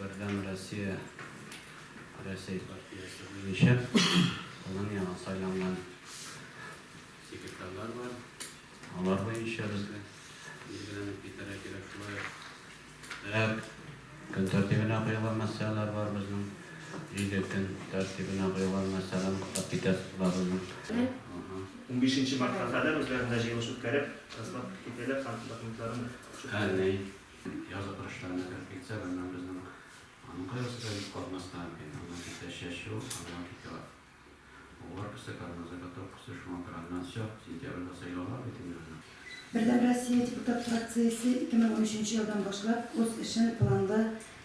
Бердәм Россия Рәсәй партиясе буенча аның яңа сайланган секретарьлары бар. Алар буенча безгә билгеләнеп китәргә кирәк. Шулай ук һәр көн тәртибенә куелган мәсьәләләр бар безнең. Җиде көн тәртибенә куелган мәсьәләне куплап китәсезме безнең? Унбишенче мартка кадәр үзләрендә җыелыш үткәреп, расклад кертәләр һәм документларын чүтмәләр. Һәм ни? Язгы көрәшләрне күреп китсәк, аннан безнең аның кайгысы да юкка узмаска мөмкин. Аннан китә чәчү, аннан китә угар косы, кармаза каток косы, шуңа күрә аннан чак, сентябрьдә сайлаулар бит инде безнең. Бердәм Россия депутат фракциясе 2013 нче елдан башлап үз эшен планлы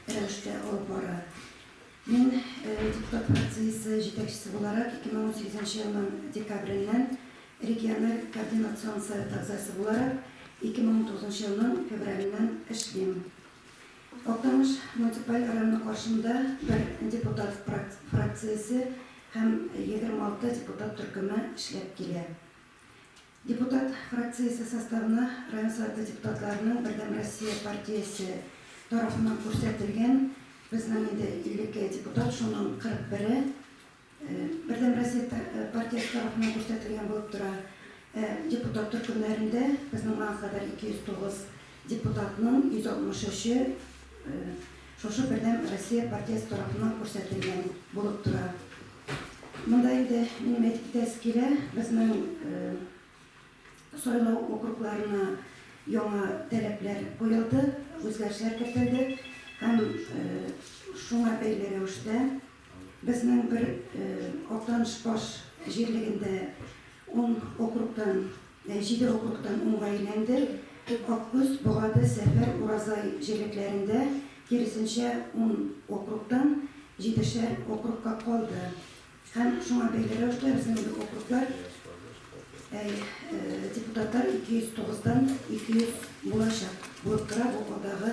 рәвештә алып бара. Мин депутат фракциясе җитәкчесе буларак, 2018 елның декабреннән региональ координацион совет әгъзасы буларак, 2019 елның февраленнән эшлим. Актаныш муниципаль районы каршында бер депутат фракциясе һәм 26 депутат төркеме эшләп килә. Депутат фракциясе составына район Советы депутатларының Бердәм Россия партиясе тарафыннан күрсәтелгән, безнең инде 52 депутат, шуның 41-е Бердәм Россия партиясе тарафыннан күрсәтелгән булып тора. Депутат төркемнәрендә безнең моңа кадәр 209 Депутатның 163-е шушы Бердәм Россия партиясе тарафыннан күрсәтелгән булып тора. Монда инде минем әйтеп китәсе килә, безнең сайлау округларына яңа таләпләр куелды, үзгәрешләр кертелде һәм шуңа бәйле рәвештә безнең бер Актаныш баш җирлегендә ун округтан Нәҗибә укуктан уңга әйләнде, тик Аккүз, Богады, Сәфәр, Уразай җирлекләрендә, киресенчә, ун округтан җидешәр округка калды. Һәм шуңа бәйле рәвештә безнең округлар, әй, депутатлар 209 дан 200 булачак булып тора бу алдагы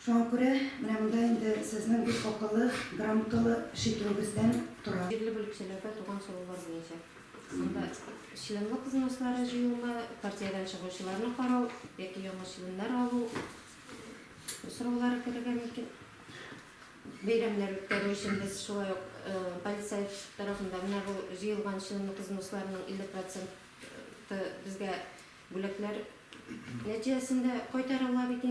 Шуңа күрә менә монда инде сезнең бик акыллы, грамоталы эш итүегездән тора. Җирле бүлекчәләрдә туган сораулар буенча анда членлык взнослары җыюны, партиядән чыгучыларны карау яки яңа членнар алу сораулары керергә мөмкин. Бәйрәмнәр үткәрү өчен без шулай ук полицай тарафында менә бу җыелган членлык взносларының 50 проценты безгә бүләкләр нәтиҗәсендә кайтарыла бит инде.